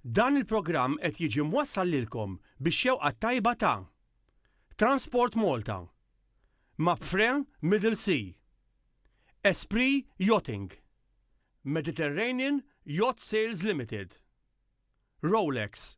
Dan il-programm qed jiġi mwassal lilkom bix-xewqa t-tajba ta' Transport Malta, Mapfre Middle Sea, Esprit Yachting, Mediterranean Yacht Sales Limited, Rolex,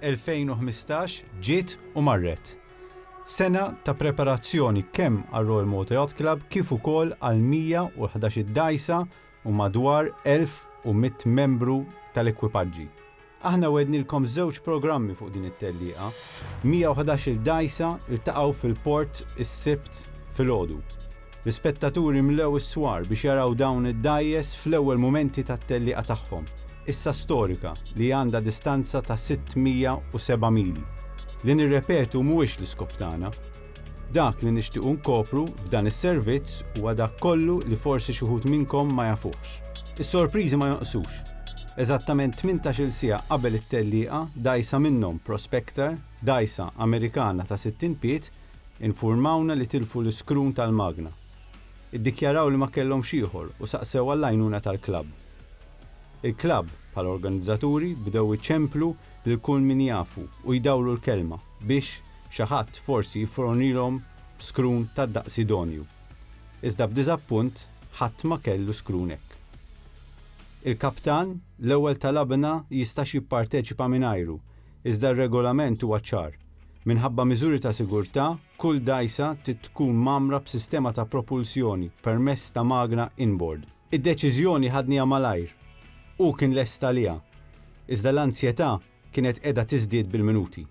2015 ġiet u marret. Sena ta' preparazzjoni kemm għar-Royal Malta Yacht Club kif ukoll għal 111 dgħajsa u madwar 1,100 membru tal-ekwipaġġi. Aħna wegħdnilkom żewġ programmi fuq din it-tellieqa. 111 dgħajsa ltaqgħu fil-port is-Sibt filgħodu. L-ispettaturi mlew is-swar biex jaraw dawn id-dgħajjes fl-ewwel mumenti tat-tellieqa tagħhom, issa storika li għandha distanza ta' 607 mili. Li nirrepetu mhuwiex l-iskop tagħna. Dak li nixtiequ nkopru f'dan is-servizz huwa dak kollu li forsi xi wħud minnkom ma jafuhx. Is-sorpriżi ma jonqsux. Eżattament tmintax-il siegħa qabel it-tellieqa dgħajsa minnhom, Prospector, dgħajsa Amerikana ta' 60 pied, Infurmawna li tilfu l-iskrun tal-magna. Iddikjaraw li ma kellhomx ieħor u saqsew għall-għajnuna tal-klabb. Il-klabb, bħala organizzaturi, bdew iċemplu lil kull min jafu u jdawru l-kelma biex xi ħadd forsi jiffronilhom b'skrun tad-daqs idonju. Iżda b'diżappunt ħadd ma kellu skrun hekk. Il-kaptan l-ewwel talabna jistax jipparteċipa mingħajru Iżda r-Regolament huwa ċar. Minħabba miżuri ta' sigurtà, kull dgħajsa trid tkun mgħammra b'sistema ta' propulsjoni permezz ta' magna inboard. Id-deċiżjoni ħadniha malajr. Hu kien lest għaliha. Iżda l-anzjetà kienet qiegħda tiżdied bil-minuti.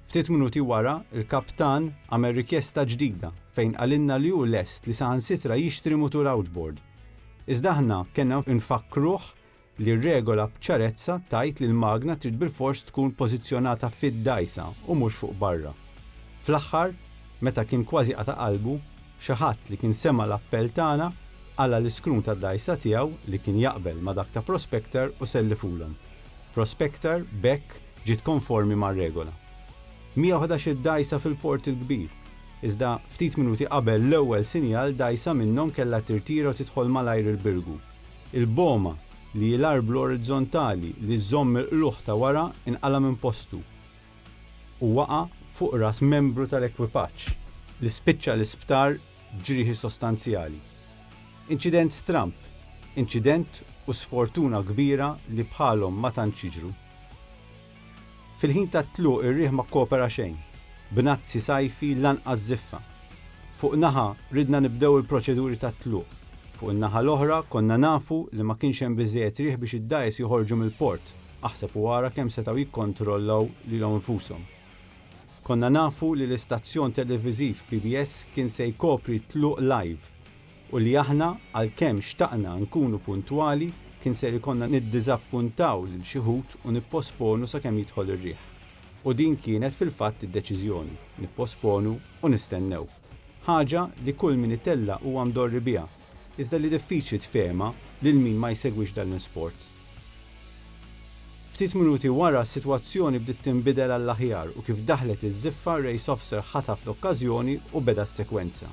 Ftit minuti wara, il-kaptan għamel rikjesta ġdida fejn qalilna li hu lest li saħansitra jixtri mutur outboard. Iżda aħna kellna nfakkruh li r-regola b'ċarezza tgħid li l-magna trid bilfors tkun pożizzjonata fid-dgħajsa u mhux fuq barra. Fl-aħħar, meta kien kważi qata' qalbu, xi ħadd li kien sema' l-appell tagħna qala' l-iskrun tad-dgħajsa tiegħu li kien jaqbel ma' dak ta' Prospector u sellifulhom. Prospector b'hekk ġiet konformi mar-regola. 111 dgħajsa fil-Port il-Kbir, iżda ftit minuti qabel l-ewwel sinjal dgħajsa minnhom kellha tirtira u tidħol malajr il-Birgu. Il-boma, li hi l-arblu orizzontali li żżomm il-qlugħ ta' wara, inqala' minn postu u waqa' fuq ras membru tal-ekwipaġġ, li spiċċa l-isptar b'ġrieħi sostanzjali. Inċident stramb, inċident u sfortuna kbira li bħalhom ma tantx jiġru. Fil-ħin tat-tluq ir-riħ ma kkopera xejn, b'nazzi sajfi lanqas żiffa. Fuq naħa ridna nibdew il-proċeduri tat-tluq, fuq in-naħa l-oħra konna nafu li ma kienx hemm biżżejjed riħ biex id-dgħajjes joħorġu mill-port, aħseb u ara kemm setgħu jikkontrollaw lilhom infushom. Konna nafu li l-istazzjon televiżiv PBS kien se jkopri t-tluq live. u li aħna, għalkemm xtaqna nkunu puntwali, kien ser ikollna niddiżappuntaw lil xi wħud u nipposponu sakemm jidħol ir-riħ. U din kienet fil-fatt id-deċiżjoni, nipposponu u nistennew. Ħaġa li kull min itella' huwa mdorri biha, iżda li diffiċli tfehemha lil min ma jsegwix dan l-isport. Ftit minuti wara s-sitwazzjoni bdiet tinbidel għall-aħjar u kif daħlet iż-żiffa Race Officer ħataf l-okkażjoni u beda s-sekwenza.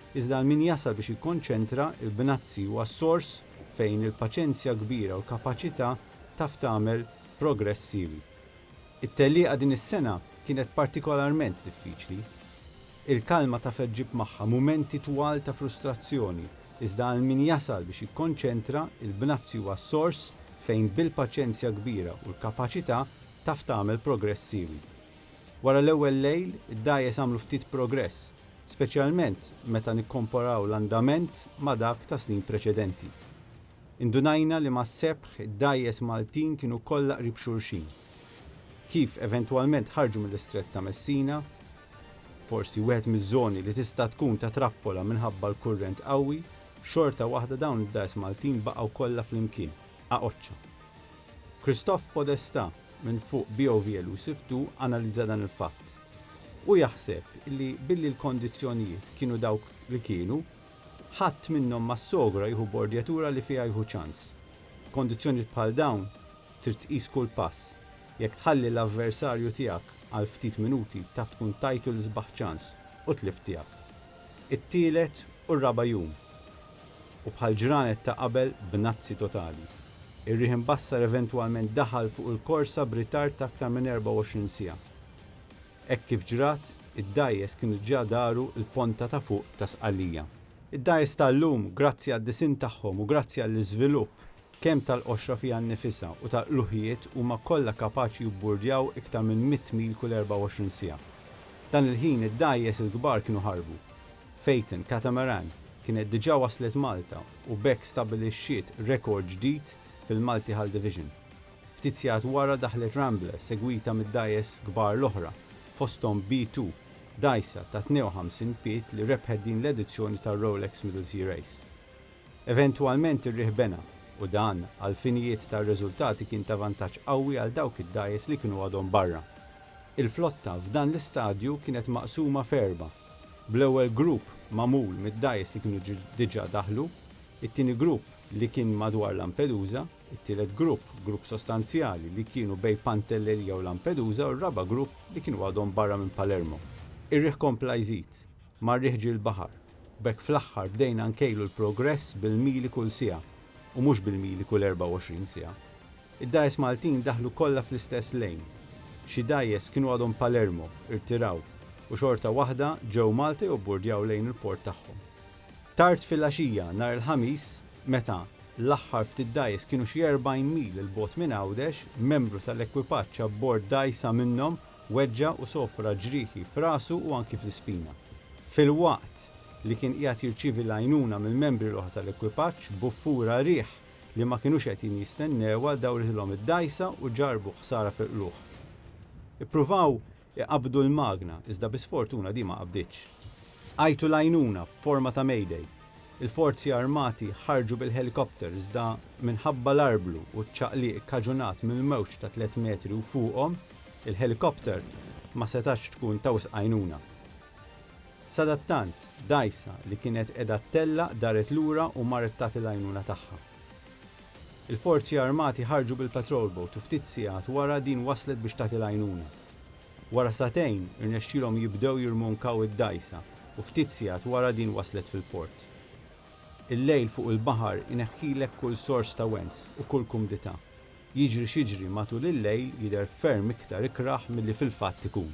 Iżda għal min jasal biex jikkonċentra l-bnazzi huwa s-sors fejn il-paċenzja kbira u l-kapaċità taf tagħmel progress siewi. It-tellieqa din is-sena kienet partikolarment diffiċli. Il-kalma taf ġġib magħha mumenti twal ta' frustrazzjoni, iżda għal min jasal biex jikkonċentra l-bnazzi huwa s-sors fejn bil-paċenzja kbira u l-kapaċità taf tagħmel progress siewi. Wara l-ewwel lejl, id-dgħajjes għamlu ftit progress, speċjalment meta nikkomparaw l-andament ma' dak ta' snin preċedenti. Indunajna li mas-sebħ id-dgħajjes Maltin kienu kollha qrib xulxin. Kif eventwalment ħarġu mill-Istrett ta' Messina, forsi wieħed miż-żoni li tista' tkun ta' trappola minħabba l-kurrent qawwi, xorta waħda dawn id-dgħajjes Maltin baqgħu kollha flimkien. Għaqoċċa. Christophe Podesta minn fuq BOV Elusive ii analizza dan il-fatt. Hu jaħseb li billi l-kondizzjonijiet kienu dawk li kienu, ħadd minnhom ma ssogra jieħu bordjatura li fiha jieħu ċans. F'kondizzjonijiet bħal dawn trid tqis kull pass. Jekk tħalli l-avversarju tiegħek għal ftit minuti taf tkun tajtu l-isbaħ ċans u tlift tiegħek. It-tielet u r-raba' jum. U bħal ġranet ta' qabel b'nazzi totali, ir-riħ imbassar eventwalment daħal fuq il-korsa b'ritard ta' aktar minn 24 siegħa. Hekk kif ġrat, id-dgħajjes kienu ġa daru l-ponta ta' fuq ta' Sqallija. Id-dgħajjes tal-lum, grazzi għad-disinn tagħhom u grazzi għall-iżvilupp Kemm tal-qoxra fiha nnifisha u tal-qluħijiet huma kollha kapaċi jibburdjaw iktar minn mitt mil kull 24 siegħa. Dan il-ħin id-dgħajjes il-kbar kienu ħarbu. Phaeton Catamaran kienet diġà waslet Malta u b'hekk stabbilixxiet rekord ġdid fil-Multi Hull Division. Ftit sigħat wara daħlet Rambler segwita mid-dgħajjes kbar l-oħra, fosthom B2, dgħajsa ta' 52 pied li rebħet din l-edizzjoni tar-Rolex Middle Sea Race. Eventwalment ir-riħ bena, u dan, għall-finijiet tar-riżultati kien ta' vantaġġ qawwi għal dawk id-dgħajjes li kienu għadhom barra. Il-flotta f'dan l-istadju kienet maqsuma f'erbgħa, bl-ewwel grupp magħmul mid-dgħajjes li kienu diġà daħlu, it-tieni grupp li kien madwar Lampedusa, it-tielet grupp, grupp sostanzjali, li kienu bejn Pantelleria u Lampedusa u r-raba' grupp li kienu għadhom barra minn Palermo. Ir-riħ kompla jżid. ma' rieħġi l-baħar. B'hekk fl-aħħar bdejna nkejlu l-progress bil-mili kull siegħa u mhux bil-mili kull 24 siegħa. Id-dgħajjes Maltin daħlu kollha fl-istess lane. Xi dgħajjes kienu għadhom Palermo, irtiraw, u xorta waħda ġew Malta jobburdjaw lejn il-port tagħhom. Tard filgħaxija nhar il-Ħamis, meta l-aħħar ftit dgħajjes kienu xi 40 mil 'il bogħod minn Għawdex, membru tal-ekwipaġġ abbord dgħajsa minnhom weġġa' u sofra ġrieħi f'rasu u anki fl-ispina. Filwaqt li kien qiegħed jirċievi l-għajnuna mill-membri l-oħra tal-ekwipaġġ, buffura riħ li ma kinux qegħdin jistennewha dawritilhom id-dgħajsa u ġarrbu ħsara fil-qlugħ. Ippruvaw iqabbdu l-magna iżda bi sfortuna din ma qabditx. Għajtu l-għajnuna b'forma ta' Mayday Il-Forzi Armati ħarġu bil-ħelikopter iżda minħabba l-arblu u ċ-ċaqliq kkaġunat mill-mewġ ta' tliet metri u fuqhom, il-ħelikopter ma setgħatx tkun ta' wisq għajnuna. Sadattant, dgħajsa li kienet qiegħda ttellaq daret lura u marret tagħti l-għajnuna tagħha. Il-Forzi Armati ħarġu bil-patrol boat u ftit sigħat wara din waslet biex tagħti l-għajnuna. Wara sagħtejn, irnexxielhom jibdew jirmonkaw id-dgħajsa u ftit sigħat wara din waslet fil-port. Il-lejl fuq il-baħar ineħħilek kull sors ta' wens u kull kumdità. Jiġri x'jiġri matul il-lejl jidher ferm iktar ikrah milli fil-fatt ikun.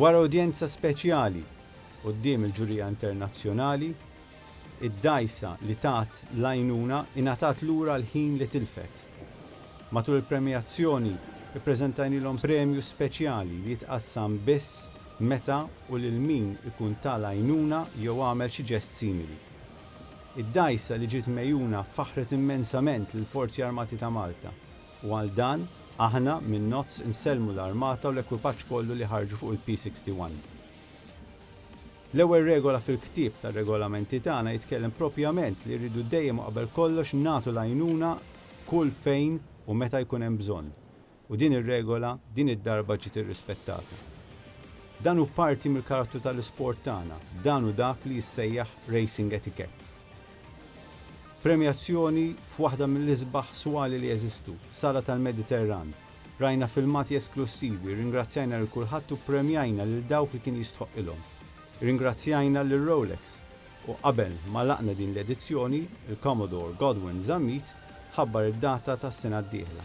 Wara udjenza speċjali quddiem il-ġurija internazzjonali, id-dgħajsa li tat l-għajnuna ingħatat lura l-ħin li tilfet. Matul il-premjazzjoni, ippreżentajnilhom premju speċjali li jitqassam biss meta u lil min ikun ta l-għajnuna jew għamel xi ġest simili. Id-dgħajsa li ġiet megħjuna faħħret immensament lill-Forzi Armati ta' Malta u għal dan aħna minn NOTS insellmu l-Armata u l-ekwipaġġ kollu li ħarġu fuq il-P61. L-ewwel regola fil-ktieb tar-regolamenti tagħna jitkellem propjament li rridu dejjem u qabel kollox nagħtu l-għajnuna kull fejn u meta jkun hemm bżonn. U din ir-regola din id-darba ġiet irrispettata. Dan hu parti mill-karattru tal-isport tagħna, dan hu dak li jissejjaħ racing etiquette. Premjazzjoni f'waħda mill-isbaħ swali li jeżistu, sala tal-Mediterran. Rajna filmati esklussivi, rringrazzjajna lil kulħadd u ppremjajna lil dawk li kien jistħoqqilhom. Irringrazzjajna lil Rolex u qabel ma għlaqna din l-edizzjoni, il-Commodore Godwin Zammit ħabbar id-data tas-sena d-dieħla.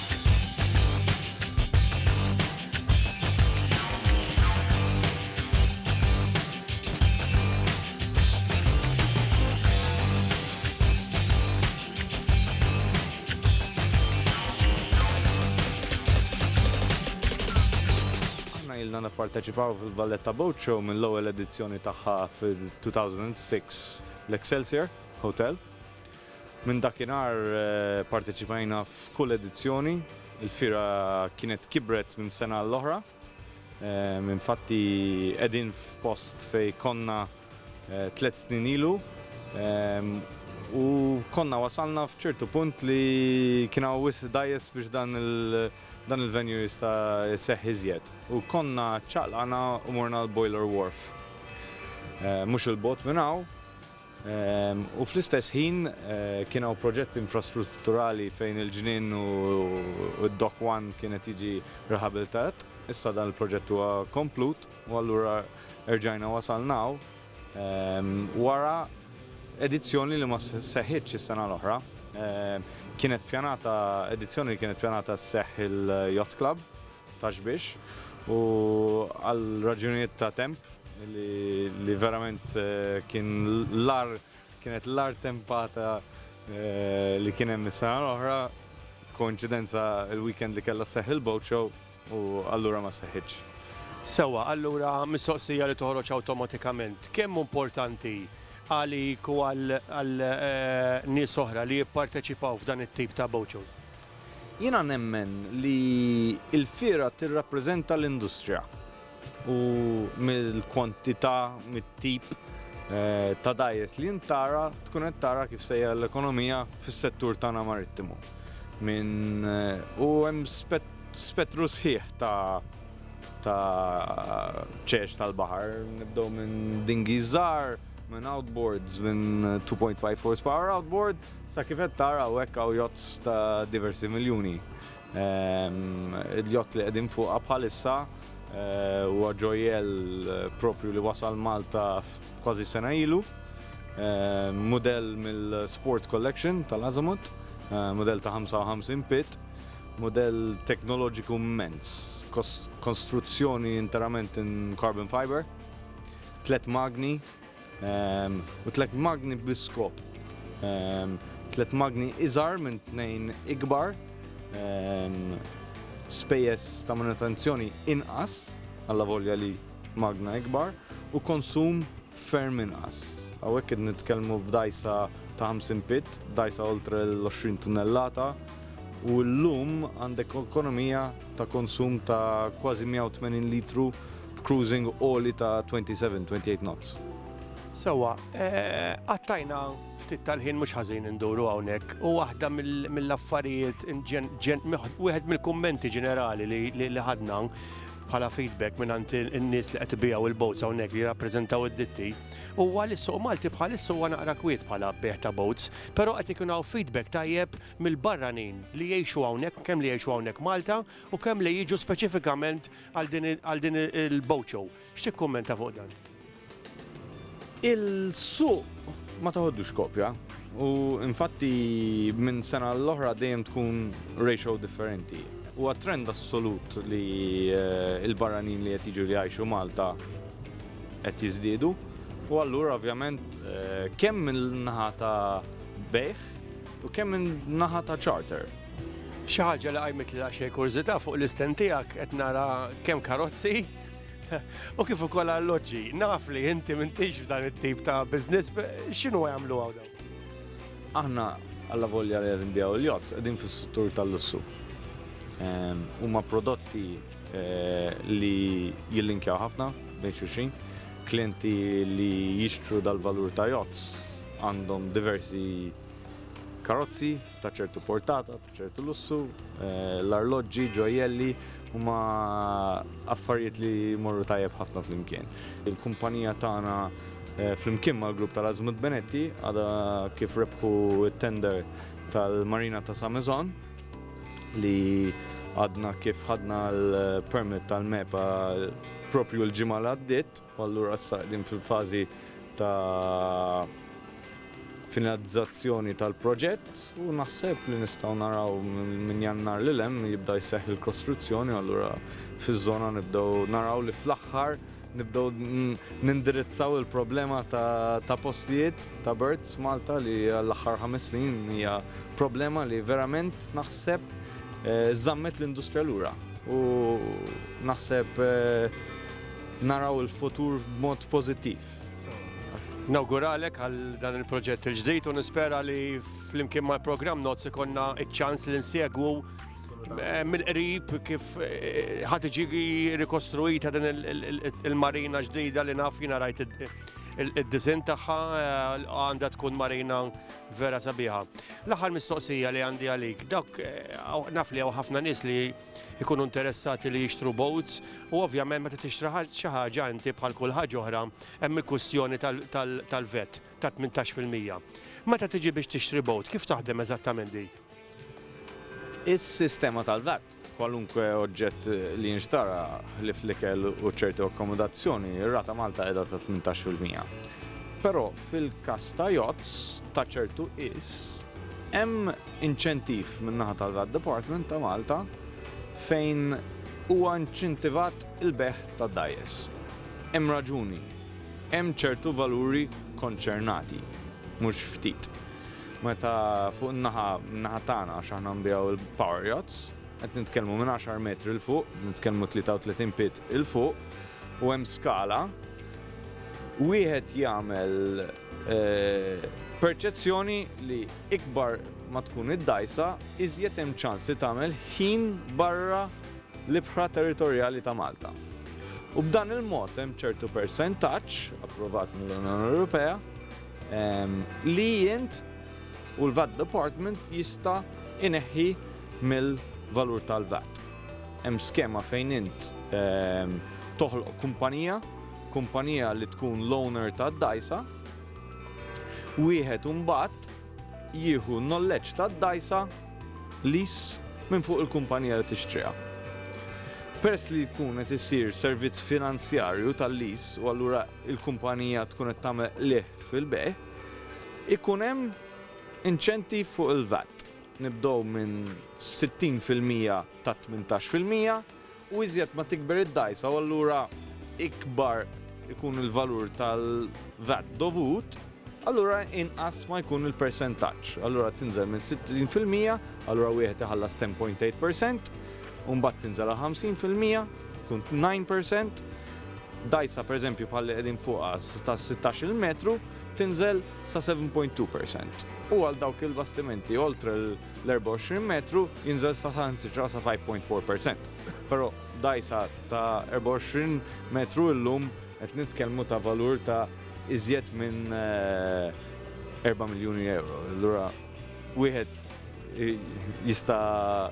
ilna nipparteċipaw fil-Valletta Boat Show mill-ewwel edizzjoni tagħha fil-2006 l-Excelsior Hotel. Minn dakinhar parteċipajna f'kull edizzjoni, il-fira kienet kibret minn sena l-oħra. Ehm, infatti qegħdin f'post fej konna eh, tliet snin ilu ehm, u konna wasalna f'ċertu punt li kien hawn wis dajes biex dan il- dan il-venue jista seħ iżjed. U konna ċaqlana u morna l-Boiler Wharf. Eh, mhux il-bot minn hawn, U fl-istess ħin kien hawn proġetti infrastrutturali fejn il-ġnien u d-Dock One kienet jiġi riħabilitat. Issa dan il-proġett huwa komplut u allura erġajna wasalna wara edizzjoni li ma seħħitx is-sena l-oħra. Kienet pjanata edizzjoni li kienet pjanata sseħħ il-Yacht Club. ta' xbiex u għal raġunijiet ta' temp li verament kien l-ar kienet l-ar tempata li kien hemm is-sena l-oħra koinċidenza l-weekend li kellha sseħħ il-boat show u allura ma seħħitx. Sewwa, allura mistoqsija li toħroġ awtomatikament, kemm hu importanti għalik u għal nies oħra li jipparteċipaw f'dan it-tip ta' boat shows? Jiena nemmen li l-fiera tirrappreżenta l-industrija u mill-kwantità, mit-tip ta' dgħajjes li int tara tkun qed tara kif sejjer l-ekonomija fis-settur tagħna marittimu. Minn u hemm spettru sħiħ ta' ta' ċeċ tal-baħar, nibdew minn dinghies żgħar, minn outboards, minn 2.5 horsepower outboard, Sa kif qed tara hawnhekk hawn jott ta' diversi miljuni. Ehm, Il-jott li qegħdin fuqha bħalissa eh, huwa ġojjel eh, propju li wasal Malta kważi sena ilu. Ehm, Mudell mill-Sport Collection tal-Azamut, eh, mudell ta' 55 pit, mudell teknoloġiku immens, konstruzzjoni interament in carbon fiber, tlet magni, u tliet magni bl-iskop, tliet magni iżgħar minn tnejn ikbar, spejjeż ta' manutenzjoni inqas, allavolja li magna ikbar, u konsum ferm inqas. Hawnhekk qed nitkellmu f'dgħajsa ta' 50 pit, dgħajsa oltre l-20 tunnellata, u llum għandek ekonomija ta' konsum ta' kważi 180 litru b'cruising għoli ta' 27, 28 knots. Sewwa, qattajna ftit tal-ħin mhux ħażin induru hawnhekk u waħda mill-affarijiet wieħed mill-kummenti ġenerali li ħadna bħala feedback minn għand in-nies li qed ibigħu l-boats hawnhekk li jirrappreżentaw id-ditti huwa li s-suq Malti bħalissa huwa naqra kwiet bħala bejħ ta' boats, però qed ikun hawn feedback tajjeb mill-barranin li jgħixu hawnhekk, kemm li jgħixu hawnhekk Malta u kemm li jiġu speċifikament Għal din il-boat show, x'tikkummenta fuq dan? Il-suq ma taħoddux kopja u infatti minn sena l-oħra dejjem tkun ratio differenti. U trend assolut li eh, il-barranin li qed jiġu li jgħixu Malta qed jiżdiedu. U allura ovvjament eh, kemm minn naħa ta' bejħ U kemm minn naħa ta' charter? Xi ħaġa li qajmet li xejn kurżità fuq l-istent tiegħek qed nara kemm karozzi u kif ukoll alloġġi. Naf li inti m'intix f'dan it-tip ta' business, x'inhu jagħmlu hawn? Aħna alla volja li qed nbijaw il-jobs qegħdin fis-settur tal-lussu. Ehm, huma prodotti eh, li jillinkjaw ħafna bejn xulxin. Klienti li jixtru dal-valur ta' jobs għandhom diversi karozzi ta' ċertu portata, ta' ċertu lussu, eh, l-arloġġi, ġojelli, huma affarijiet li morru tajjeb ħafna flimkien. Il-kumpanija tagħna eh, flimkien mal-grupp tal-Azmut Benetti għada kif rebħu t-tender tal-Marina ta' Samezon li għadna kif ħadna l-permit tal-MEPA propju l-ġimgħa l għaddiet U allura issa qegħdin fil-fażi ta' finalizzazzjoni tal-proġett u naħseb li nistgħu naraw minn jannar li lem jibda jseħħ il-kostruzzjoni u allura fiż-żona nibdew naraw li fl-aħħar nibdew nindirizzaw il-problema ta', ta postijiet ta' birds Malta li l-aħħar ħames snin hija problema li verament naħseb eh, żammet l-industrija lura. U naħseb eh, Naraw il-futur b'mod pożittiv. Nawguralek għal dan il-proġett il-ġdid u nispera li flimkien mal programm Notes ikonna iċ-ċans li nsegwu eh, mill-qrib kif eh, ħad iġi rikostruita din il-marina ġdida li naf jina rajt id-dizin tagħha eh, għandha tkun marina vera sabiħa. L-aħħar mistoqsija li għandi għalik, dak naf li hawn ħafna nies li ikunu interessati li jixtru boats u ovvjament meta tixtri xi ħaġa inti bħal kull ħaġa oħra hemm il-kwistjoni tal-vet ta' 18%. Meta tiġi biex tixtri boat, kif taħdem eżattament di? Is-sistema tal-vet kwalunkwe oġġett li jinxtara ħlif l-ikel u ċerti akkomodazzjoni, ir-rata Malta qiegħda ta' 18%. Però fil-każ ta' yachts ta' ċertu is hemm inċentiv min-naħa tal-VAT Department ta' Malta fejn huwa inċentivat il-bejgħ ta' dgħajjes. Hemm raġuni. Hemm ċertu valuri konċernati, mhux ftit. Meta fuq in-naħa naħa tagħna għax aħna nbiegħu l-power yachts, qed nitkellmu minn 10 metri l fuq, nitkellmu 33 pit il fuq u hemm skala wieħed jagħmel Perċezzjoni li ikbar ma tkun id-dgħajsa, iżjed hemm ċans li tagħmel ħin barra l-ibħra territorjali ta' Malta. U b'dan il-mod hemm ċertu persentaġġ, approvat mill-Unjoni Ewropea, ehm, li jint u l-VAT Department jista' ineħħi mill-valur tal-VAT. Hemm skema fejn int ehm, toħloq kumpanija kumpanija li tkun l-owner tad-dgħajsa, wieħed imbagħad jieħu n-nolleġġ tad-dgħajsa lease minn fuq il-kumpanija li tixtriha. Peress li jkun qed isir servizz finanzjarju tal-lease u allura l-kumpanija tkun qed tagħmel qligħ fil-bejgħ, ikun hemm inċentiv fuq il-VAT. Nibdew minn 60% ta' 18%, U iżjed ma tikber id-dgħajsa u allura ikbar ikun il-valur tal-VAT dovut, allura inqas ma jkun il-persentaġġ. Allura tinżel minn 60%, allura wieħed iħallas 10.8%, u mbagħad tinżel għal 50%, tkun 9%, dajsa per eżempju bħal qegħdin fuqha ta' 16 metru tinżel sa 7.2%. U għal dawk il-bastimenti oltre l-24 metru jinżel saħan sitra sa 5.4%. Pero dajsa ta' 24 metru illum qed nitkellmu ta' valur ta' iżjed minn 4 eh, miljoni euro. Allura wieħed eh, jista'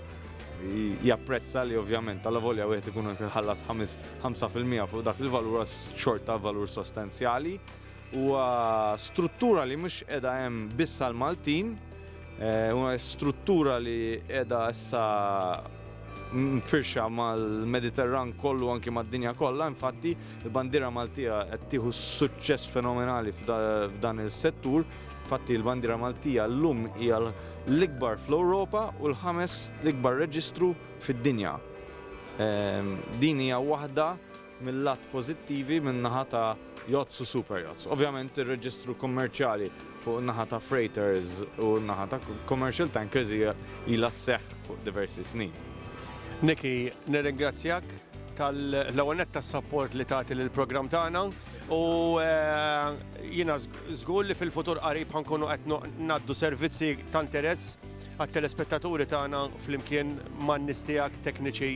japprezza li ovvjament tal volja wieħed ikun ħallas 5% fuq dak il-valur xorta valur sostanzjali. Huwa struttura li mhux qiegħda hemm biss għal Maltin, eh, huwa struttura li qiegħda issa mfirxa mal-Mediterran kollu anki mad-dinja kollha, infatti il-bandira Maltija qed tieħu suċċess fenomenali f'dan il-settur. Infatti il-bandira Maltija llum hija l-ikbar fl-Ewropa u l-ħames l-ikbar reġistru fid-dinja. Ehm, din hija waħda mill-lat pożittivi min-naħa ta' yachts u super yachts. Ovvjament ir-reġistru kummerċjali fuq in-naħa ta' freighters u n-naħa ta' commercial tankers hija ilha sseħħ fuq diversi snin. Niki, nirringrazzjak tal-ewwel nett tas-sapport li tagħti lill-programm tagħna u jiena żgur li fil-futur qarib ħankunu qed ngħaddu servizzi ta' interess għat-telespettaturi tagħna flimkien man-nies tiegħek tekniċi